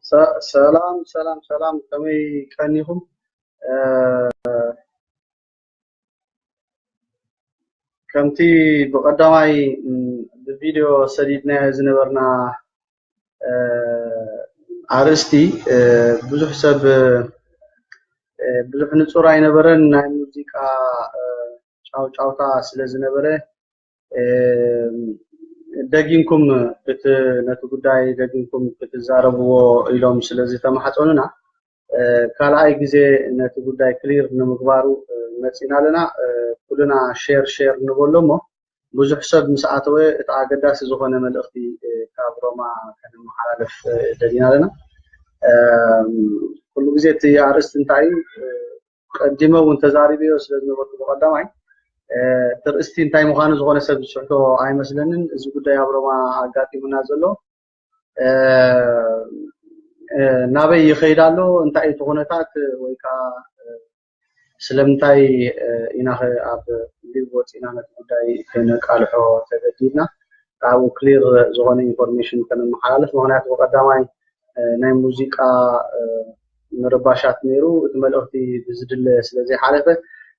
ሰ- ሰላም ሰላም ሰላም ከመይ ቀኒኹም እ፣ ከምቲ ብቐዳማይ እ፣ ብቪድዮ ሰዲድናዮ ዝነበርና እ፣ ኣርእስቲ እ፣ ብዙሕ ሰብ እ፣ ብዙሕ ንጹር ኣይነበረን ናይ ሙዚቃ እ፣ ጫውጫውታ ስለ ዝነበረ ደጊምኩም ነቲ ጉዳይ ደጊምኩም ክትዛረብዎ ኢሎም ስለ ዝተማሕፀኑና ካልኣይ ግዜ ነቲ ጉዳይ ክሊር ንምግባሩ መፂና ኣለና። ኩልና ሼር ሼር ንበሎ እሞ ብዙሕ ሰብ ምስ ኣተወ እቲ ኣገዳሲ ዝኾነ መልእኽቲ ካብ ሮማ ከነመሓላልፍ ደሊና ኣለና። ኩሉ ግዜ እቲ ኣርእስቲ እንታይ እዩ? ቀዲመ እውን ተዛሪበዮ ስለ ዝነበርኩ ብቐዳማይ እቲ ርእስቲ እንታይ ምዃኑ ዝኾነ ሰብ ዝስሕቶ ኣይመስለንን። እዚ ጉዳይ ኣብ ሮማ ኣጋጢሙና ዘሎ ናበይ ይኸይድ ኣሎ፣ እንታይ እቲ ኩነታት ወይ ከዓ ስለምንታይ ኢና ኸ ኣብ ሊቭ ወፂእና ነቲ ጉዳይ ከነቃልሖ ተገዲድና ካብኡ ክሊር ዝኾነ ኢንፎርሜሽን ከነመሓላልፍ ምክንያቱ ብቐዳማይ ናይ ሙዚቃ ምርባሻት ነይሩ እቲ መልእኽቲ ብዝድለ ስለ ዘይሓለፈ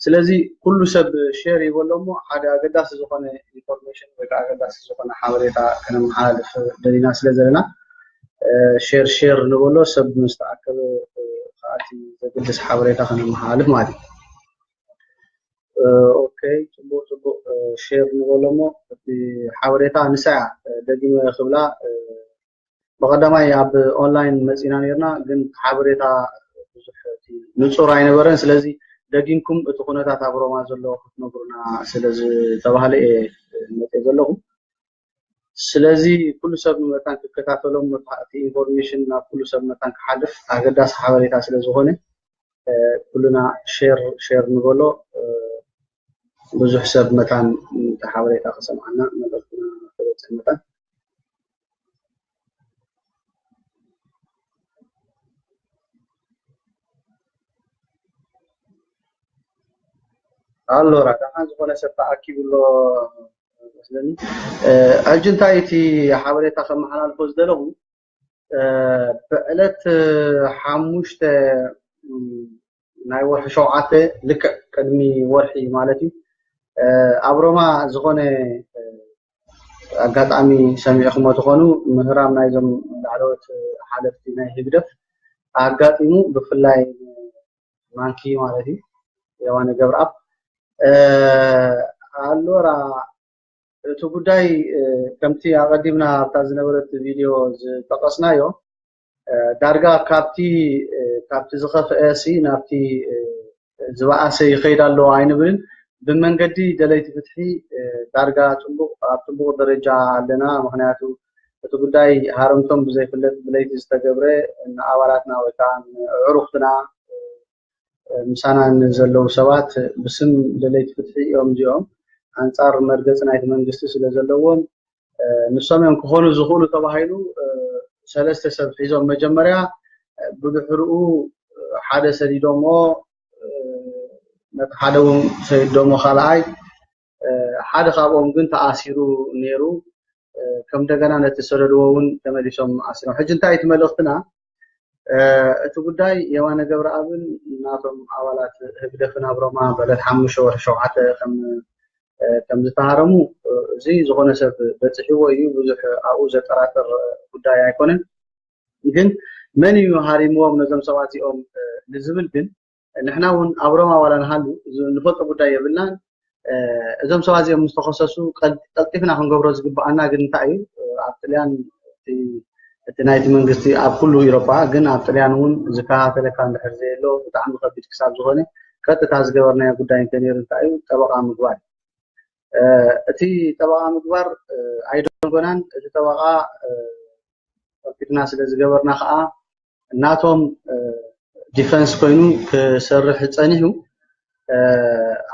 ስለዚ ኩሉ ሰብ ሼር ይበሎ እሞ ሓደ ኣገዳሲ ዝኾነ ኢንፎርሜሽን ወይ ከዓ ኣገዳሲ ዝኾነ ሓበሬታ ከነመሓላልፍ ደሊና ስለ ዘለና ሼር ሼር ንበሎ ሰብ ምስ ተኣከበ ከኣቲ ዘገድስ ሓበሬታ ከነመሓላልፍ ማለት እዩ ኦኬ ፅቡቅ ፅቡቅ ሼር ንበሎ እሞ እቲ ሓበሬታ ንሳያ ደጊመ ክብላ ብቀዳማይ ኣብ ኦንላይን መፂና ነይርና ግን ሓበሬታ ብዙሕ ንፁር ኣይነበረን ስለዚ ደጊምኩም እቲ ኩነታት ኣብ ሮማ ዘሎ ክትነግሩና ስለዝተባህለ እየ መፂኤ ዘለኹ ስለዚ ኩሉ ሰብ መታን ክከታተሎም እቲ ኢንፎርሜሽን ናብ ኩሉ ሰብ መታን ክሓልፍ ኣገዳሲ ሓበሬታ ስለዝኾነ ኩልና ሼር ሼር ንበሎ ብዙሕ ሰብ መታን ነቲ ሓበሬታ ክሰምዓና መልእኽትና ክበጽሕ መታን። ኣሎ ዳሓን ዝኾነ ሰብ ተኣኪቡ ኣሎ መስለኒ ሕጂ እንታይ እቲ ሓበሬታ ከመሓላልፎ ዝደለኹ ብዕለት ሓሙሽተ ናይ ወርሒ ሸውዓተ ልክዕ ቅድሚ ወርሒ ማለት እዩ ኣብ ሮማ ዝኾነ ኣጋጣሚ ሰሚዕኹሞ ትኾኑ ምህራም ናይዞም ላዕለዎት ሓለፍቲ ናይ ህግደፍ ኣጋጢሙ ብፍላይ ማንኪ ማለት እዩ የዋነ ገብረኣብ ኣሎራ እቲ ጉዳይ ከምቲ ኣቐዲምና ኣብታ ዝነበረት ቪድዮ ዝጠቐስናዮ ዳርጋ ካብቲ ካብቲ ዝኸፍአ ሲ ናብቲ ዝበኣሰ ይኸይድ ኣሎ ኣይንብልን። ብመንገዲ ደለይቲ ፍትሒ ዳርጋ ጥቡቕ ኣብ ጥቡቕ ደረጃ ኣለና። ምክንያቱ እቲ ጉዳይ ሃረምቶም ብዘይፍለጥ ብለይቲ ዝተገብረ ንኣባላትና ወይ ከዓ ንኣዕሩኽትና ምሳና ንዘለዉ ሰባት ብስም ደለይቲ ፍትሒ እዮም እዚኦም ኣንጻር መርገጺ ናይቲ መንግስቲ ስለዘለዎም ንሶም እዮም ክኾኑ ዝኽእሉ ተባሂሉ ሰለስተ ሰብ ሒዞም መጀመርያ ብድሕርኡ ሓደ ሰዲዶሞ ነቲ ሓደ እውን ሰዲዶሞ ካልኣይ ሓደ ካብኦም ግን ተኣሲሩ ኔሩ ከም እንደገና ነቲ ዝሰደድዎ እውን ተመሊሶም ኣሲሮም ሕጂ እንታይ እቲ መልእኽትና እቲ ጉዳይ የማነ ገብረኣብን ናቶም ኣባላት ህግደፍን ኣብ ሮማ በለት ሓሙሽተ ወርሒ ሸውዓተ ከም ከም ዝተሃረሙ እዚ ዝኾነ ሰብ በፂሕዎ እዩ ብዙሕ ኣብኡ ዘጠራጥር ጉዳይ ኣይኮነን ግን መን እዩ ሃሪምዎም ነዞም ሰባት እዚኦም ንዝብል ግን ንሕና እውን ኣብ ሮማ ዋላ ንሃሉ ንፈልጦ ጉዳይ የብልናን እዞም ሰባት እዚኦም ምስ ተኸሰሱ ቀልጢፍና ክንገብሮ ዝግብኣና ግን እንታይ እዩ ኣብ ጥልያን እቲ ናይቲ መንግስቲ ኣብ ኩሉ ኢሮፓ ግን ኣብ ጥልያን እውን ዝከታተለካ እንድሕር ዘየሎ ብጣዕሚ ከቢድ ክሳብ ዝኾነ ቀጥታ ዝገበርናዮ ጉዳይ እንተነይሩ እንታይ እዩ ጠበቃ ምግባር እቲ ጠበቓ ምግባር ኣይደንጎናን እቲ ጠበቓ ከፊልና ስለ ዝገበርና ከዓ ናቶም ዲፈንስ ኮይኑ ክሰርሕ ፀኒሑ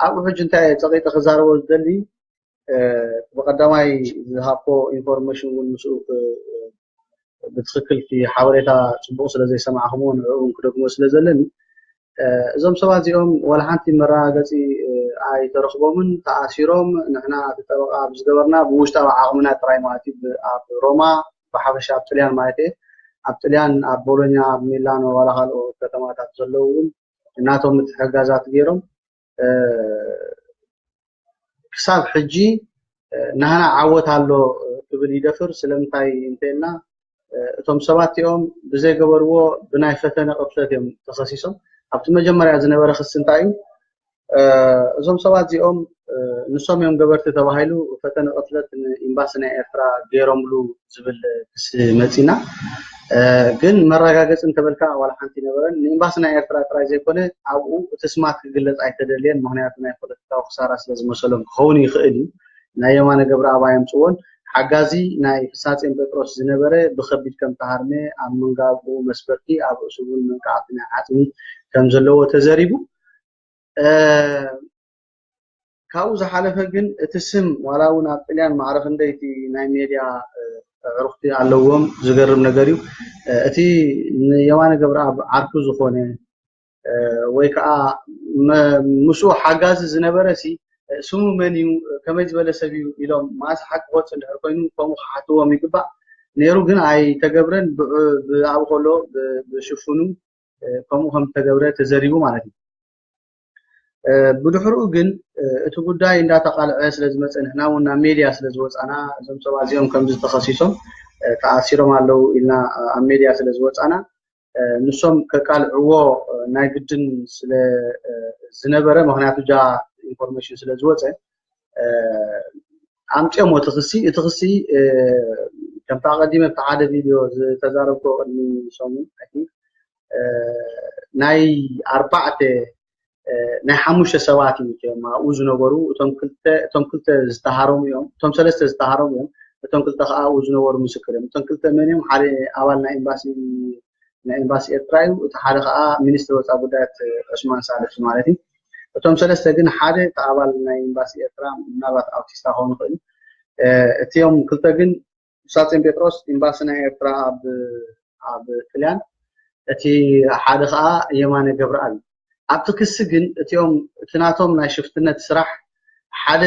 ኣብኡ ሕጂ እንታይ እየ ፀቒጠ ክዛረቦ ዝደሊ ብቐዳማይ ዝሃብኩዎ ኢንፎርሜሽን እውን ምስኡ ብትኽክል እቲ ሓበሬታ ፅቡቕ ስለዘይሰማዕኹምዎ ንዕኡ እውን ክደግሞ ስለዘለኒ እዞም ሰባት እዚኦም ዋላ ሓንቲ መረጋገፂ ኣይተረኽቦምን ተኣሲሮም ንሕና እቲ ጠበቓ ብዝገበርና ብውሽጣዊ ዓቕምና ጥራይ ማለት እዩ ኣብ ሮማ ብሓፈሻ ኣብ ጥልያን ማለት እየ ኣብ ጥልያን ኣብ ቦሎኛ ኣብ ሚላኖ ዋላ ካልኦ ከተማታት ዘለዉ እውን ናቶም ምትሕግጋዛት ገይሮም ክሳብ ሕጂ ናህና ዓወት ኣሎ ክብል ይደፍር ስለምንታይ እንተይልና እቶም ሰባት እቲኦም ብዘይገበርዎ ብናይ ፈተነ ቅርሰት እዮም ተኸሲሶም ኣብቲ መጀመርያ ዝነበረ ክሲ እንታይ እዩ እዞም ሰባት እዚኦም ንሶም እዮም ገበርቲ ተባሂሉ ፈተነ ቅትለት ንኤምባሲ ናይ ኤርትራ ገይሮምሉ ዝብል ክሲ መፂና ግን መረጋገፂ እንተበልካ ዋላ ሓንቲ ኣይነበረን። ንኤምባሲ ናይ ኤርትራ ጥራይ ዘይኮነ ኣብኡ እቲ ስማት ክግለፅ ኣይተደልየን ምኽንያቱ ናይ ፖለቲካዊ ክሳራ ስለዝመሰሎም ክኸውን ይኽእል እዩ። ናይ የማነ ገብረኣብ ኣየምፅዎን። ሓጋዚ ናይ ፍስሃጼን ጴጥሮስ ዝነበረ ብኸቢድ ከምተሃርመ ኣብ ምንጋጉኡ መስበርቲ ኣብ ርእሱ እውን መንቃዕቲ ናይ ዓፅሚ ከምዘለዎ ተዘሪቡ። ካብኡ ዝሓለፈ ግን እቲ ስም ዋላ እውን ኣብ ጥልያን ማዕረ ክንደይ እቲ ናይ ሜድያ ኣዕሩኽቲ ኣለዎም ዝገርም ነገር እዩ። እቲ ንየማነ ገብረኣብ ዓርኩ ዝኾነ ወይ ከዓ ምስኡ ሓጋዚ ዝነበረ ሲ ስሙ መን እዩ ከመይ ዝበለ ሰብ እዩ ኢሎም ማእስ ሓቂ ክወፅ እንድሕር ኮይኑ ከምኡ ክሓትዎም ይግባእ ነይሩ ግን ኣይተገብረን ብኣብ ከሎ ብሽፍኑ ከምኡ ከም ዝተገብረ ተዘሪቡ ማለት እዩ። ብድሕርኡ ግን እቲ ጉዳይ እንዳተቃልዐ ስለዝመፀ ንሕና እውን ናብ ሜድያ ስለዝወፃና እዞም ሰባት እዚኦም ከምዚ ተኸሲሶም ተኣሲሮም ኣለው ኢልና ኣብ ሜድያ ስለዝወፃና ንሶም ከቃልዕዎ ናይ ግድን ስለዝነበረ ምክንያቱ እጃ ኢንፎርሜሽን ስለዝወፀ ኣምፅኦሞ እቲ ክሲ እቲ ክሲ ከምቲ ኣቐዲመ እቲ ሓደ ቪድዮ ዝተዛረብኩ ቅድሚ ሰሙን ናይ ኣርባዕተ ናይ ሓሙሽተ ሰባት እዩ እቶም ኣብኡ ዝነበሩ እቶም ክልተ እቶም ክልተ ዝተሃረሙ እዮም እቶም ሰለስተ ዝተሃረሙ እዮም እቶም ክልተ ከዓ ኣብኡ ዝነበሩ ምስክር እዮም እቶም ክልተ መን እዮም ሓደ ኣባል ናይ ኤምባሲ ናይ ኤምባሲ ኤርትራ እዩ እቲ ሓደ ከዓ ሚኒስትር ወፃ ጉዳያት ዑስማን ሳልሕ ማለት እዩ እቶም ሰለስተ ግን ሓደ እቲ ኣባል ናይ ኤምባሲ ኤርትራ ምናልባት ኣውቲስታ ክኸውን ይኽእል እቲኦም ክልተ ግን ሳጺን ጴጥሮስ ኢምባሲ ናይ ኤርትራ ኣብ ኣብ ጥልያን እቲ ሓደ ከኣ የማነ ገብረኣብ ኣብቲ ክሲ ግን እቲኦም እቲ ናቶም ናይ ሽፍትነት ስራሕ ሓደ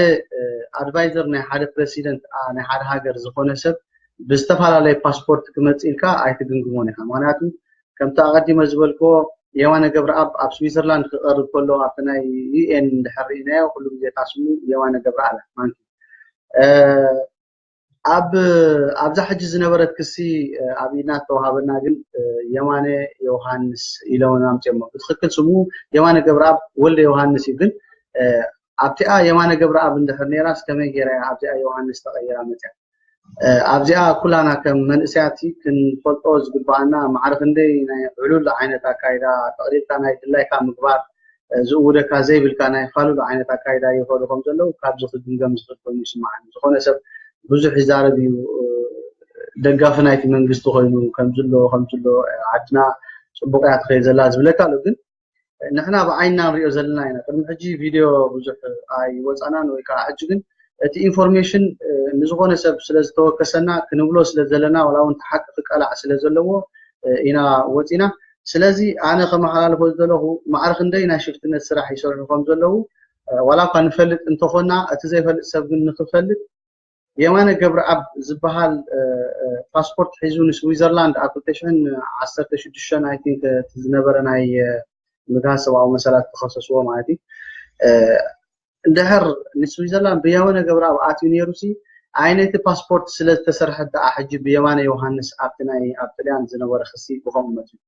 ኣድቫይዘር ናይ ሓደ ፕረሲደንት ናይ ሓደ ሃገር ዝኾነ ሰብ ብዝተፈላለየ ፓስፖርት ክመጽእ ኢልካ ኣይትግምግሞን ኢኻ ምክንያቱ ከምቲ ኣቐዲመ ዝበልክዎ የማነ ገብረኣብ ኣብ ስዊዘርላንድ ክቐርብ ከሎ ኣብቲ ናይ ዩኤን እንድሕር ርኢናዮ ኩሉ ግዜ እታ ስሙ የማነ ገብረኣብ ማንኪ ኣብ ኣብዛ ሕጂ ዝነበረት ክሲ ኣብ ኢድና ዝተዋሃበና ግን የማነ ዮውሃንስ ኢሎም ኣምፅኦሞ ብትክክል ስሙ የማነ ገብረኣብ ወልደ ዮውሃንስ እዩ ግን ኣብቲኣ የማነ ገብረኣብ እንድሕር ነይራስ ከመይ ገይራ እያ ኣብዚኣ ዮውሃንስ ተቐይራ መፅያ ኣብዚኣ ኩላና ከም መንእሰያት ክንፈልጦ ዝግባኣና ማዕረ ክንደይ ናይ ዕሉል ዓይነት ኣካይዳ ጠቕሊልካ ናይ ድላይካ ምግባር ዝእውደካ ዘይብልካ ናይ ፋሉል ዓይነት ኣካይዳ ይኸዱ ከም ዘለዉ ካብዚ ክግምገም ዝኽእል ኮይኑ ይስምዓኒ። ዝኾነ ሰብ ብዙሕ ይዛረብ እዩ ደጋፊ ናይቲ መንግስቲ ኮይኑ ከምዚ ኣሎ ከምዚ ኣሎ ዓድና ጽቡቕ እያ ትኸይድ ዘላ ዝብለካ ኣሎ ግን ንሕና ብዓይንና ንሪኦ ዘለና ኢና ቅድሚ ሕጂ ቪድዮ ብዙሕ ኣይወጻናን ወይ ከዓ ሕጂ ግን እቲ ኢንፎርሜሽን ንዝኾነ ሰብ ስለ ዝተወከሰና ክንብሎ ስለ ዘለና ዋላ እውን ተሓቂ ክቀላዕ ስለ ዘለዎ ኢና ወጺና ስለዚ ኣነ ከመሓላልፎ ዝደለኹ ማዕረ ክንደይ ናይ ሽፍትነት ስራሕ ይሰርሑ ከም ዘለዉ ዋላ እኳ ንፈልጥ እንተኾና እቲ ዘይፈልጥ ሰብ ግን ንክፈልጥ የማነ ገብረኣብ ዝበሃል ፓስፖርት ሒዙ ንስዊዘርላንድ ኣብ 2016 ኣይ ቲንክ ዝነበረ ናይ ምግሃስ ሰብኣዊ መሰላት ክኸሰስዎ ማለት እዩ እንድሕር ንስዊዘርላንድ ብየማነ ገብረኣብ ኣትዩ ነይሩሲ ኣይ ነቲ ፓስፖርት ስለ ዝተሰርሐት ደኣ ሕጂ ብየማነ ዮውሃንስ ኣብቲ ናይ ኣብ ጥልያን ዝነበረ ክሲ ብኸምኡ መጺኡ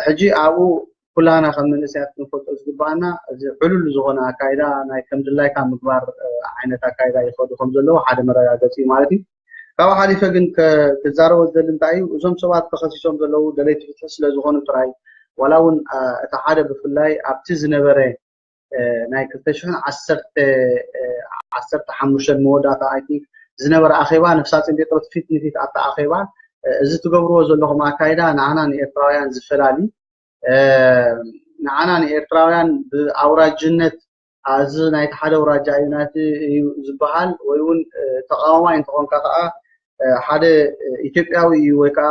ሕጂ ኣብኡ ኩላህና ከም መንእሰያት ክንፈልጦ ዝግብኣና እዚ ዕሉል ዝኾነ ኣካይዳ ናይ ከም ድላይካ ምግባር ዓይነት ኣካይዳ ይኸዱ ከም ዘለዉ ሓደ መረጋገጺ እዩ ማለት እዩ ካብኡ ሓሊፈ ግን ክዛረቦ ዝደሊ እንታይ እዩ እዞም ሰባት ተኸሲሶም ዘለዉ ደለይቲ ፍትሒ ስለ ዝኾኑ ጥራይ ዋላ እውን እቲ ሓደ ብፍላይ ኣብቲ ዝነበረ ናይ ክልተ ሽሕን ዓሰርተ ሓሙሽተን መወዳእታ ኣይ ቲንክ ዝነበረ ኣኼባ ነፍሳፂን ጴጥሮስ ፊት ንፊት ኣብቲ ኣኼባ እዚ ትገብርዎ ዘለኹም ኣካይዳ ንዓና ንኤርትራውያን ዝፈላሊ ንዓና ንኤርትራውያን ብኣውራጅነት እዚ ናይቲ ሓደ ኣውራጃ እዩ ናይቲ እዩ ዝበሃል ወይ እውን ተቃዋማይ እንትኾንካ ከዓ ሓደ ኢትዮጵያዊ እዩ ወይ ከዓ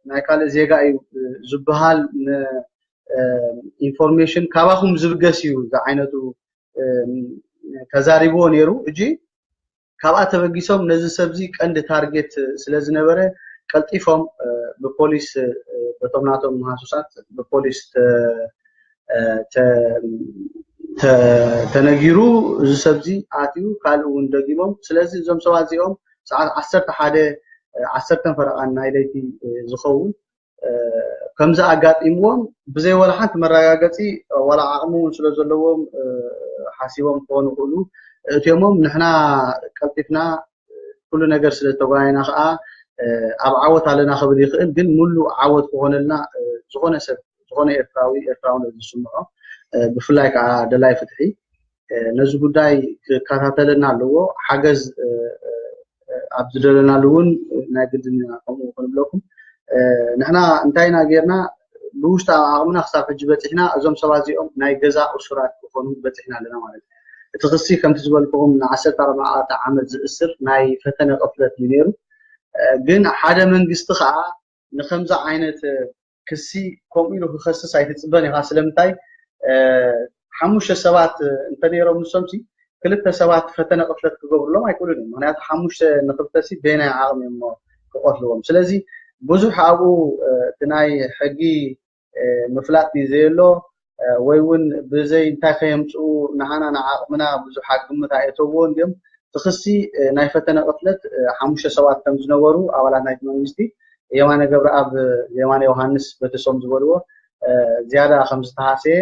ናይ ካልእ ዜጋ እዩ ዝበሃል ኢንፎርሜሽን ካባኹም ዝብገስ እዩ ዝዓይነቱ ተዛሪብዎ ነይሩ እጂ ካብኣ ተበጊሶም ነዚ ሰብዚ ቀንዲ ታርጌት ስለ ዝነበረ ቀልጢፎም ብፖሊስ በቶም ናቶም መሃሱሳት ብፖሊስ ተነጊሩ እዚ ሰብዚ ኣትዩ ካልእ እውን ደጊሞም ስለዚ እዞም ሰባት እዚኦም ሰዓት ዓሰርተ ሓደ ዓሰርተን ፈረቓን ናይ ለይቲ ዝኸውን ከምዚ ኣጋጢምዎም ብዘይ ዋላ ሓንቲ መረጋገፂ ዋላ ዓቕሚ እውን ስለ ዘለዎም ሓሲቦም ክኾኑ ይኽእሉ እትዮሞም ንሕና ቀልጢፍና ኩሉ ነገር ስለ ዝተጓየና ከዓ ኣብ ዓወት ኣለና ክብል ይኽእል ግን ሙሉ ዓወት ክኾነልና ዝኾነ ሰብ ዝኾነ ኤርትራዊ ኤርትራውነት ዝስምዖ ብፍላይ ከዓ ደላይ ፍትሒ ነዚ ጉዳይ ክከታተለና ኣለዎ ሓገዝ ኣብ ዝደለናሉ እውን ናይ ግድን ኢና ከምኡ ክንብለኩም ንሕና እንታይ ኢና ጌርና ብውሽጢ ዓቕምና ክሳብ ሕጂ በፂሕና እዞም ሰባት እዚኦም ናይ ገዛ እሱራት ክኾኑ በፂሕና ኣለና ማለት እዩ እቲ ክሲ ከምቲ ዝበልክኹም ንዓሰርተ ኣርባዕተ ዓመት ዝእስር ናይ ፈተነ ቅፍለት እዩ ነይሩ ግን ሓደ መንግስቲ ከዓ ንከምዚ ዓይነት ክሲ ከምኡ ኢሉ ክኸስስ ኣይትፅበን ኢኻ ስለምንታይ ሓሙሽተ ሰባት እንተነይሮም ንሶምሲ ክልተ ሰባት ፈተነ ቅትለት ክገብሩሎም ኣይክእሉን እዮም ምክንያቱ ሓሙሽተ ንክልተሲ በየናይ ዓቕሚ እዮም እሞ ክቐትልዎም ስለዚ ብዙሕ ኣብኡ እቲ ናይ ሕጊ ምፍላጥ እዩ ዘየሎ ወይ ውን ብዘይ እንታይ ከየምጽኡ ንዓና ንዓቕምና ብዙሕ ኣብ ግምት ኣየእተውዎን ድዮም? እቲ ክሲ ናይ ፈተነ ቅትለት ሓሙሽተ ሰባት ከም ዝነበሩ ኣባላት ናይቲ መንግስቲ የማነ ገብረኣብ የማነ ዮሃንስ በተሶም ዝበልዎ ዝያዳ ከም ዝተሃሰየ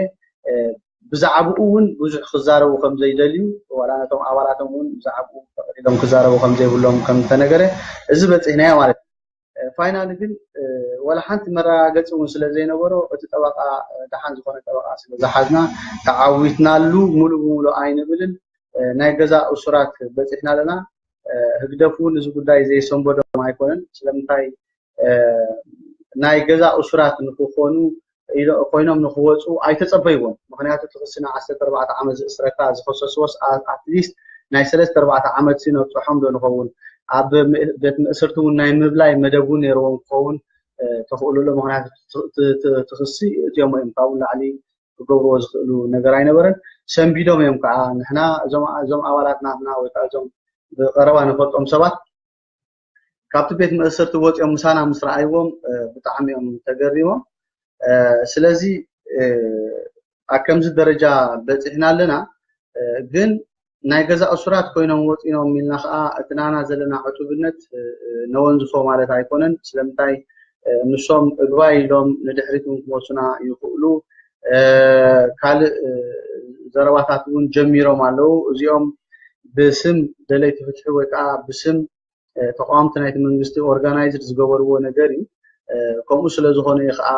ብዛዕብኡ ውን ብዙሕ ክዛረቡ ከም ዘይደልዩ ዋላ ነቶም ኣባላቶም ውን ብዛዕብኡ ጠቕሊሎም ክዛረቡ ከም ዘይብሎም ከም ዝተነገረ እዚ በጺሕናዮ ማለት እዩ። ፋይናሊ ግን ዋላ ሓንቲ መረጋገፂ እውን ስለዘይነበሮ እቲ ጠበቓ ደሓን ዝኾነ ጠበቓ ስለዝሓዝና ተዓዊትናሉ ሙሉእ ብሙሉእ ኣይንብልን ናይ ገዛ እሱራት በፂሕና ኣለና ህግደፍ እውን እዚ ጉዳይ ዘይሰንበዶም ኣይኮነን ስለምንታይ ናይ ገዛ እሱራት ንክኾኑ ኮይኖም ንክወጹ ኣይተጸበይዎን ምክንያቱ እቲ ክሲ ናይ ዓሰርተ ኣርባዕተ ዓመት ዝእስረካ ዝከሰስዎስ ኣትሊስት ናይ ሰለስተ ኣርባዕተ ዓመት ሲ ነብጽሖም ዶ ንከውን ኣብ ቤት ምእስርቲ ውን ናይ ምብላይ መደብ ውን ነርዎም ክከውን ተክእሎ ኣሎ ምክንያቱ እቲ ክሲ እእትዮሞ እዮም ካብኡ ንላዕሊ ክገብርዎ ዝክእሉ ነገር ኣይነበረን ሰንቢዶም እዮም ከኣ ንሕና እዞም ኣባላት ናትና ወይ ከኣ እዞም ብቀረባ ንፈልጦም ሰባት ካብቲ ቤት መእሰርቲ ወፂኦም ምሳና ምስ ረኣይዎም ብጣዕሚ እዮም ተገሪሞም ስለዚ ኣብ ከምዚ ደረጃ በፂሕና ኣለና ግን ናይ ገዛ እሱራት ኮይኖም ወፂኖም ኢልና ከዓ እቲ ናና ዘለና ዕቱብነት ነወንዝፎ ማለት ኣይኮነን ስለምንታይ ንሶም እግባይ ኢሎም ንድሕሪት እውን ክመሱና ይኽእሉ ካልእ ዘረባታት እውን ጀሚሮም ኣለዉ። እዚኦም ብስም ደለይቲ ፍትሒ ወይ ከዓ ብስም ተቃወምቲ ናይቲ መንግስቲ ኦርጋናይዝድ ዝገበርዎ ነገር እዩ። ከምኡ ስለ ዝኾነ እዩ ከዓ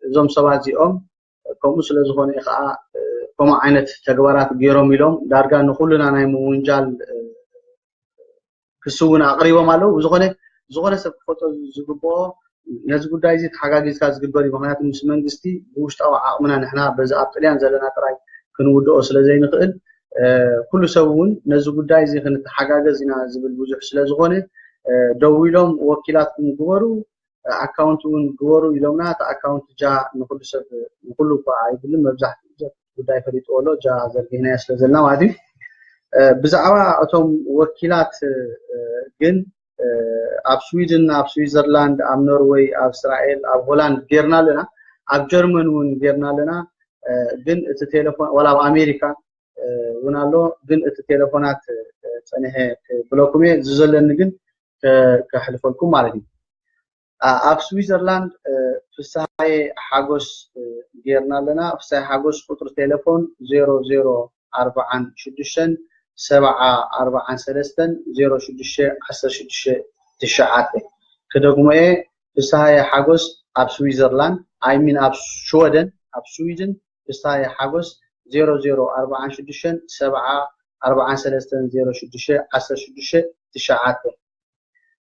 እዞም ሰባት እዚኦም ከምኡ ስለ ዝኾነ እዩ ከዓ ከምኡ ዓይነት ተግባራት ገይሮም ኢሎም ዳርጋ ንኹልና ናይ ምውንጃል ክሲ እውን ኣቅሪቦም ኣለው ብዝኮነ ዝኮነ ሰብ ክፈልጦ ዝግበኦ ነዚ ጉዳይ እዚ ተሓጋጊዝካ ዝግበር እዩ ምክንያቱ ምስ መንግስቲ ብውሽጣዊ ዓቅምና ንሕና በዚ ኣብ ጥልያን ዘለና ጥራይ ክንውድኦ ስለ ዘይንክእል ኩሉ ሰብ እውን ነዚ ጉዳይ እዚ ክንተሓጋገዝ ኢና ዝብል ብዙሕ ስለ ዝኮነ ደዊሎም ወኪላትኩም ግበሩ ኣካውንት እውን ግበሩ ኢሎምና እቲ ኣካውንት ጃ ንኩሉ ሰብ ንኩሉ እኳ ኣይብልን መብዛሕትኡ ሰብ ጉዳይ ፈሊጥዎ ኣሎ እጃ ዘርጊሕናያ ስለ ዘለና ማለት እዩ ብዛዕባ እቶም ወኪላት ግን ኣብ ስዊድን ኣብ ስዊዘርላንድ ኣብ ኖርወይ ኣብ እስራኤል ኣብ ሆላንድ ጌርና ኣለና ኣብ ጀርመን እውን ጌርና ኣለና ግን እቲ ቴሌፎን ዋላ ኣብ ኣሜሪካ እውን ኣሎ ግን እቲ ቴሌፎናት ፀኒሐ ብለኩም እየ ዝዘለኒ ግን ከሕልፈልኩም ማለት እዩ ኣብ ስዊዘርላንድ ፍስሃየ ሓጎስ ጌርና ኣለና። ፍስሃየ ሓጎስ ቁጽሪ ቴለፎን ዜሮ ዜሮ ኣርብዓን ሽዱሽተን ሰብዓ ኣርብዓን ሰለስተን ዜሮ ሽዱሽተ ዓሰርተ ሽዱሽተ ትሽዓተ። ክደግሞ እየ ፍስሃየ ሓጎስ ኣብ ስዊዘርላንድ ኣይ ሚን ኣብ ሽወደን ኣብ ስዊድን ፍስሃየ ሓጎስ ዜሮ ዜሮ ኣርብዓን ሽዱሽተን ሰብዓ ኣርብዓን ሰለስተን ዜሮ ሽዱሽተ ዓሰርተ ሽዱሽተ ትሽዓተ።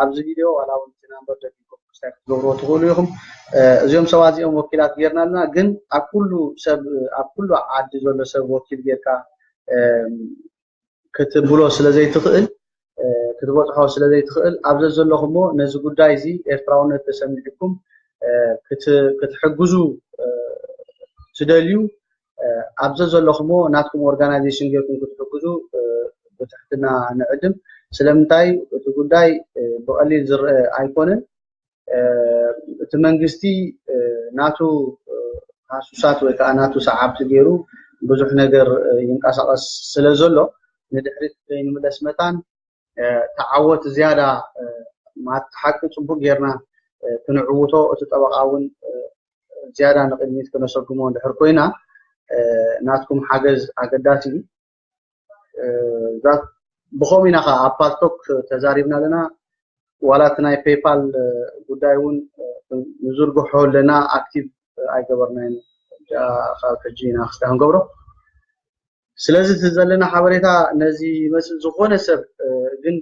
ኣብዚ ቪድዮ ዋላ ውን እቲ ናምበር ደጊምኩም ሪስታይል ክትገብርዎ ትኽእሉ ኢኹም። እዚኦም ሰባት እዚኦም ወኪላት ጌርና ኣለና ግን ኣብ ኩሉ ሰብ ኣብ ኩሉ ዓዲ ዘሎ ሰብ ወኪል ጌርካ ክትብሎ ስለ ዘይትኽእል ክትበጽሖ ስለ ዘይትኽእል ኣብ ዘዘለኹሞ ነዚ ጉዳይ እዚ ኤርትራውነት ተሰሚዑኩም ክትሕግዙ ትደልዩ ኣብ ዘዘለኹሞ ናትኩም ኦርጋናይዜሽን ጌርኩም ክትሕግዙ ብትሕትና ንዕድም። ስለምንታይ እቲ ጉዳይ ብቐሊል ዝረአ ኣይኮነን። እቲ መንግስቲ ናቱ ሃሱሳት ወይ ከዓ ናቱ ሰዓብቲ ገይሩ ብዙሕ ነገር ይንቀሳቐስ ስለ ዘሎ ንድሕሪት ከይንምለስ መታን ተዓወት ዝያዳ ማለት ሓቂ ፅቡቅ ጌርና ክንዕውቶ እቲ ጠበቃ እውን ዝያዳ ንቅድሚት ክነሰጉሞ እንድሕር ኮይና ናትኩም ሓገዝ ኣገዳሲ እዩ ብኸም ኢና ከዓ ኣብ ፓልቶክ ተዛሪብና ኣለና ዋላ እቲ ናይ ፔይፓል ጉዳይ እውን ንዝርግሖ ኣለና ኣክቲቭ ኣይገበርናይን ካብ ሕጂ ኢና ክስታ ክንገብሮ ስለዚ እቲ ዘለና ሓበሬታ ነዚ ይመስል ዝኾነ ሰብ ግን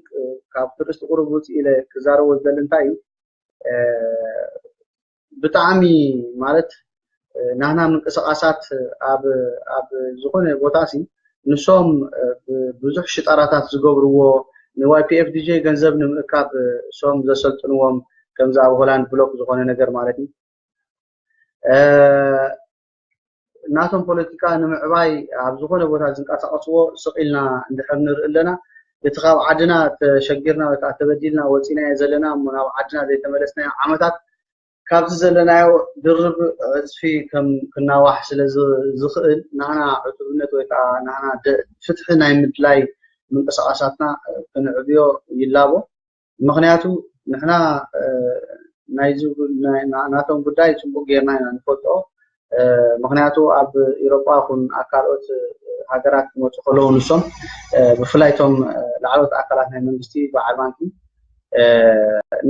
ካብ ትርእስቲ ቁሩብ ውፅእ ኢለ ክዛረቦ ዝደሊ እንታይ እዩ ብጣዕሚ ማለት ናህና ምንቅስቓሳት ኣብ ኣብ ዝኾነ ቦታ ሲ ንሶም ብዙሕ ሽጣራታት ዝገብርዎ ንዋይፒኤፍዲጄ ገንዘብ ንምእካብ እሶም ዘሰልጥንዎም ከምዚ ኣብ ሆላንድ ብሎክ ዝኾነ ነገር ማለት እዩ ናቶም ፖለቲካ ንምዕባይ ኣብ ዝኾነ ቦታ ዝንቀሳቐስዎ ስቕ ኢልና እንድሕር ንርኢ ኣለና። እቲ ካብ ዓድና ተሸጊርና ወይ ከዓ ተበዲልና ወፂእናዮ ዘለና እሞ ናብ ዓድና ዘይተመለስናዮ ዓመታት ካብዚ ዘለናዮ ድርብ ዕፅፊ ከም ክናዋሕ ስለ ዝኽእል ናህና ዕቱብነት ወይ ከዓ ናህና ፍትሒ ናይ ምድላይ ምንቅስቓሳትና ክንዕብዮ ይላቦ። ምኽንያቱ ንሕና ናቶም ጉዳይ ፅቡቅ ገይርና ኢና ንፈልጦ ምኽንያቱ ኣብ ኢሮጳ ኹን ኣብ ካልኦት ሃገራት ክመፁ ከለዉ ንሶም ብፍላይ እቶም ላዕለዎት ኣካላት ናይ መንግስቲ በዓል ባንኪ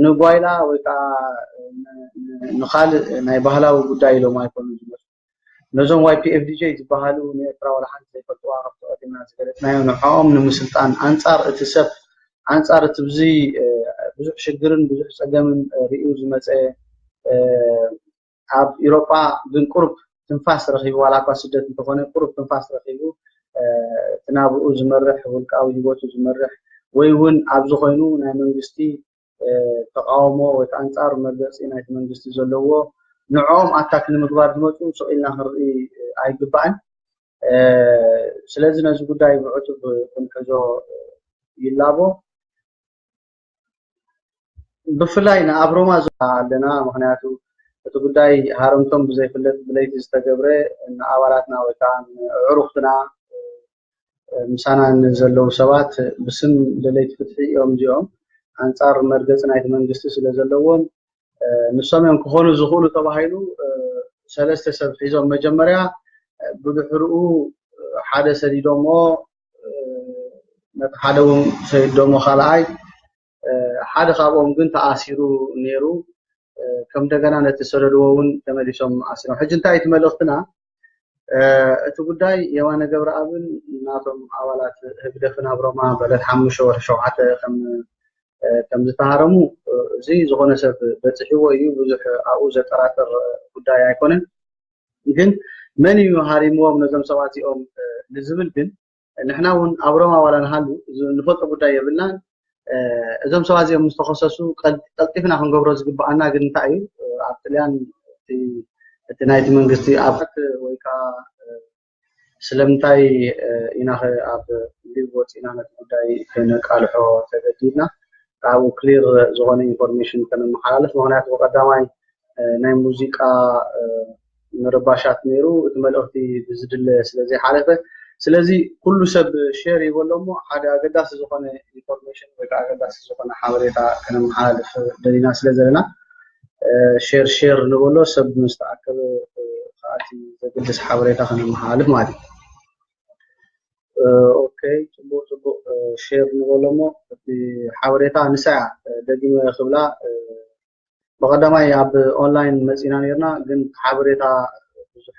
ንጓይላ ወይ ከዓ ንካልእ ናይ ባህላዊ ጉዳይ ኢሎም ኣይኮኑ ዝመፁ ነዞም YPFDJ ዝበሃሉ ንኤርትራ ዋላ ሓንቲ ዘይፈልጥዋ ካብቲ ቀዲምና ዝገለጽናዮ ንዕኦም ንምስልጣን ኣንጻር እቲ ሰብ ኣንጻር እቲ ብዙ ብዙሕ ሽግርን ብዙሕ ጸገምን ሪኡ ዝመጸ ኣብ ኢሮጳ ግን ቁርብ ትንፋስ ረኺቡ ዋላ እኳ ስደት እንተኾነ ቁርብ ትንፋስ ረኺቡ እቲ ናብኡ ዝመርሕ ውልቃዊ ህይወቱ ዝመርሕ ወይ እውን ኣብዚ ኮይኑ ናይ መንግስቲ ተቃውሞ ወይ ከዓ ኣንፃር መግለፂ ናይቲ መንግስቲ ዘለዎ ንዕኦም ኣታክ ንምግባር ዝመፁ ስቕ ኢልና ክንርኢ ኣይግባእን። ስለዚ ነዚ ጉዳይ ብዕቱብ ክንሕዞ ይላቦ። ብፍላይ ንኣብ ሮማ ኣለና ምክንያቱ እቲ ጉዳይ ሃረምቶም ብዘይፍለጥ ብለይቲ ዝተገብረ ንኣባላትና ወይ ከዓ ንዕሩክትና ምሳና ንዘለዉ ሰባት ብስም ደለይቲ ፍትሒ እዮም እዚኦም ኣንጻር መርገጺ ናይቲ መንግስቲ ስለ ዘለዎም ንሶም እዮም ክኾኑ ዝኽእሉ ተባሂሉ ሰለስተ ሰብ ሒዞም መጀመርያ ብድሕርኡ ሓደ ሰዲዶሞ ነቲ ሓደ እውን ሰዲዶሞ ካልኣይ ሓደ ካብኦም ግን ተኣሲሩ ኔሩ ከም እንደገና ነቲ ሰለልዎ እውን ተመሊሶም ኣሲሮም ሕጂ እንታይ እቲ መልእኽትና እቲ ጉዳይ የማነ ገብረኣብን ናቶም ኣባላት ህግደፍን ኣብ ሮማ በለት ሓሙሽተ ወርሒ ሸውዓተ ከም ከም ዝተሃረሙ እዚ ዝኾነ ሰብ በፂሕዎ እዩ ብዙሕ ኣብኡ ዘጠራጥር ጉዳይ ኣይኮነን ግን መን እዩ ሃሪምዎም ነዞም ሰባት እዚኦም ንዝብል ግን ንሕና እውን ኣብ ሮማ ዋላ ንሃሉ ንፈልጦ ጉዳይ የብልናን እዞም ሰባት እዚኦም ምስ ተኸሰሱ ቀልጢፍና ክንገብሮ ዝግብኣና ግን እንታይ እዩ ኣብ ጥልያን እቲ ናይቲ መንግስቲ ኣብት ወይ ከዓ ስለምንታይ ኢና ኣብ ሊብ ወፂእና ነቲ ጉዳይ ከነቃልሖ ተገዲድና ካብኡ ክሊር ዝኾነ ኢንፎርሜሽን ከነመሓላልፍ ምክንያቱ ብቀዳማይ ናይ ሙዚቃ ምርባሻት ነይሩ እቲ መልእኽቲ ብዝድለ ስለዘይሓለፈ ስለዚ ኩሉ ሰብ ሼር ይበሎ እሞ ሓደ ኣገዳሲ ዝኾነ ኢንፎርሜሽን ወይ ከዓ ኣገዳሲ ዝኾነ ሓበሬታ ከነመሓላልፍ ደሊና ስለ ዘለና ሼር ሼር ንበሎ ሰብ ምስ ተኣከበ ከዓ እቲ ዘገድስ ሓበሬታ ከነመሓላልፍ ማለት እዩ ኦኬ ፅቡቅ ፅቡቅ ሼር ንበሎ እሞ እቲ ሓበሬታ ንሳ እያ ደጊመ ክብላ ብቀዳማይ ኣብ ኦንላይን መፂና ነርና ግን ሓበሬታ ብዙሕ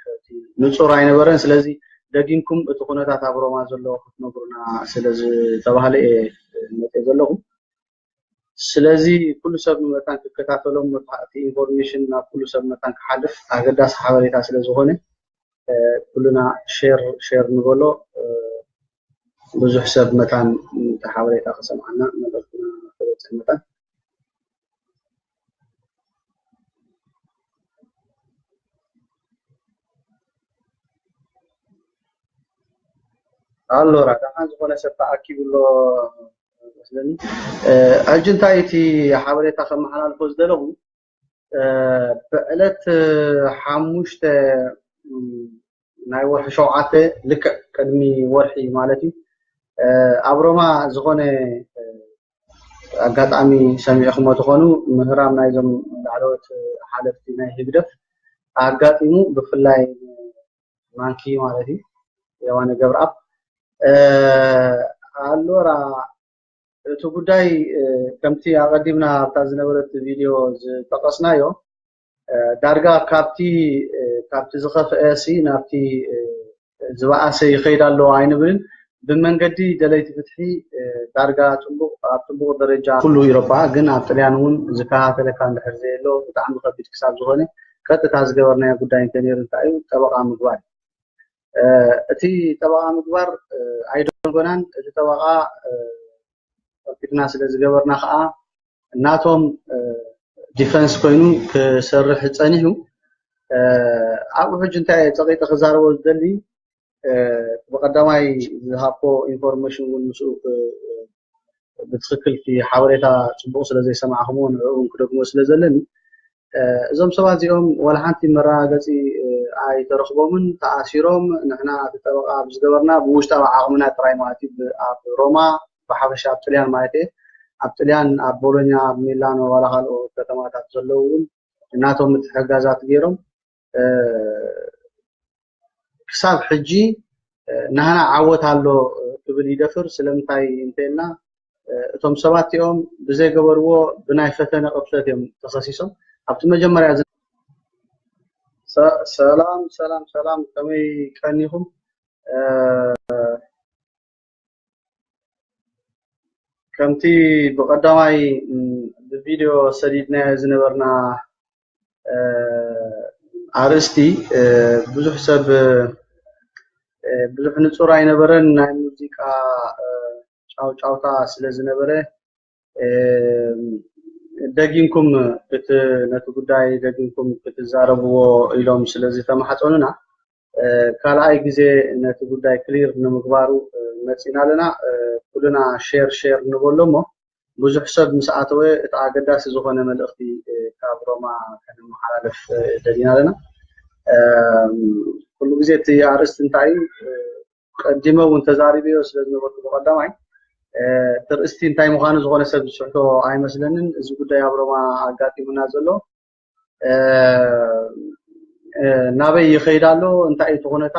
ንፁር ኣይነበረን ስለዚ ደጊምኩም እቲ ኩነታት ኣብ ሮማ ዘሎ ክትነግሩና ስለዝተባህለ እየ መፂኤ ዘለኹ ስለዚ ኩሉ ሰብ ንመታን ክከታተሎም እቲ ኢንፎርሜሽን ናብ ኩሉ ሰብ መታን ክሓልፍ ኣገዳሲ ሓበሬታ ስለዝኾነ ኩልና ሼር ሼር ንበሎ ብዙሕ ሰብ መታን ነቲ ሓበሬታ ክሰምዓና መልእኽትና ክበጽሕ መታን። ኣሎ ራዳሓ ዝኾነ ሰብ ተኣኪቡ ኣሎ መስለኒ ሕጂ እንታይ እቲ ሓበሬታ ከመሓላልፎ ዝደለኹ ብዕለት ሓሙሽተ ናይ ወርሒ ሸውዓተ ልክዕ ቅድሚ ወርሒ ማለት እዩ ኣብ ሮማ ዝኾነ ኣጋጣሚ ሰሚዕኹሞ ትኾኑ ምህራም ናይዞም ላዕለዎት ሓለፍቲ ናይ ህግደፍ ኣጋጢሙ ብፍላይ ማንኪ ማለት እዩ የዋነ ገብረኣብ ኣሎራ እቲ ጉዳይ ከምቲ ኣቐዲምና ኣብታ ዝነበረት ቪድዮ ዝጠቐስናዮ ዳርጋ ካብቲ ካብቲ ዝኸፍአ ሲ ናብቲ ዝበኣሰ ይኸይድ ኣሎ ኣይንብልን። ብመንገዲ ደለይቲ ፍትሒ ዳርጋ ጥቡቕ ኣብ ጥቡቕ ደረጃ ኩሉ ኢሮፓ ግን ኣብ ጥልያን እውን ዝከታተለካ እንድሕር ዘየሎ ብጣዕሚ ከቢድ ክሳብ ዝኾነ ቀጥታ ዝገበርናዮ ጉዳይ እንተነይሩ እንታይ እዩ ጠበቓ ምግባር እዩ። እቲ ጠበቓ ምግባር ኣይደንጎናን እቲ ጠበቓ ከፊልና ስለ ዝገበርና ከዓ ናቶም ዲፈንስ ኮይኑ ክሰርሕ ፀኒሑ ኣብኡ ሕጂ እንታይ እየ ፀቒጠ ክዛረቦ ዝደሊ ብቐዳማይ ዝሃብኩዎ ኢንፎርሜሽን እውን ምስኡ ብትኽክል እቲ ሓበሬታ ፅቡቕ ስለዘይሰማዕኹምዎ ንዕኡ ክደግሞ ስለዘለኒ እዞም ሰባት እዚኦም ዋላ ሓንቲ መረጋገፂ ኣይተረኽቦምን ተኣሲሮም ንሕና እቲ ጠበቓ ብዝገበርና ብውሽጣዊ ዓቕምና ጥራይ ማለት እዩ ኣብ ሮማ ብሓፈሻ ኣብ ጥልያን ማለት እየ ኣብ ጥልያን ኣብ ቦሎኛ ኣብ ሚላኖ ዋላ ካልኦ ከተማታት ዘለዉ እውን ናቶም ምትሕግጋዛት ገይሮም ክሳብ ሕጂ ናህና ዓወት ኣሎ ክብል ይደፍር ስለምንታይ እንተይልና እቶም ሰባት እኦም ብዘይገበርዎ ብናይ ፈተነ ቅርሰት እዮም ተኸሲሶም ኣብቲ መጀመርያ ሰላም ሰላም ሰላም ከመይ ቀኒኹም ከምቲ ብቐዳማይ ብቪድዮ ሰዲድናዮ ዝነበርና ኣርእስቲ ብዙሕ ሰብ ብዙሕ ንጹር ኣይነበረን ናይ ሙዚቃ ጫውጫውታ ስለ ዝነበረ ደጊምኩም ነቲ ጉዳይ ደጊምኩም ክትዛረብዎ ኢሎም ስለዝተማሓፀኑና ካልኣይ ግዜ ነቲ ጉዳይ ክሊር ንምግባሩ መፂና ኣለና። ኩልና ሼር ሼር ንበሎ እሞ ብዙሕ ሰብ ምስ ኣተወ እቲ ኣገዳሲ ዝኾነ መልእኽቲ ካብ ሮማ ከነመሓላልፍ ደሊና ኣለና። ኩሉ ግዜ እቲ ኣርእስቲ እንታይ እዩ? ቀዲመ እውን ተዛሪበዮ ስለ ዝነበርኩ ብቐዳማይ እቲ ርእስቲ እንታይ ምዃኑ ዝኾነ ሰብ ዝስሕቶ ኣይመስለንን። እዚ ጉዳይ ኣብ ሮማ ኣጋጢሙና ዘሎ ናበይ ይኸይድ ኣሎ እንታይ እዩ እቲ ኩነታት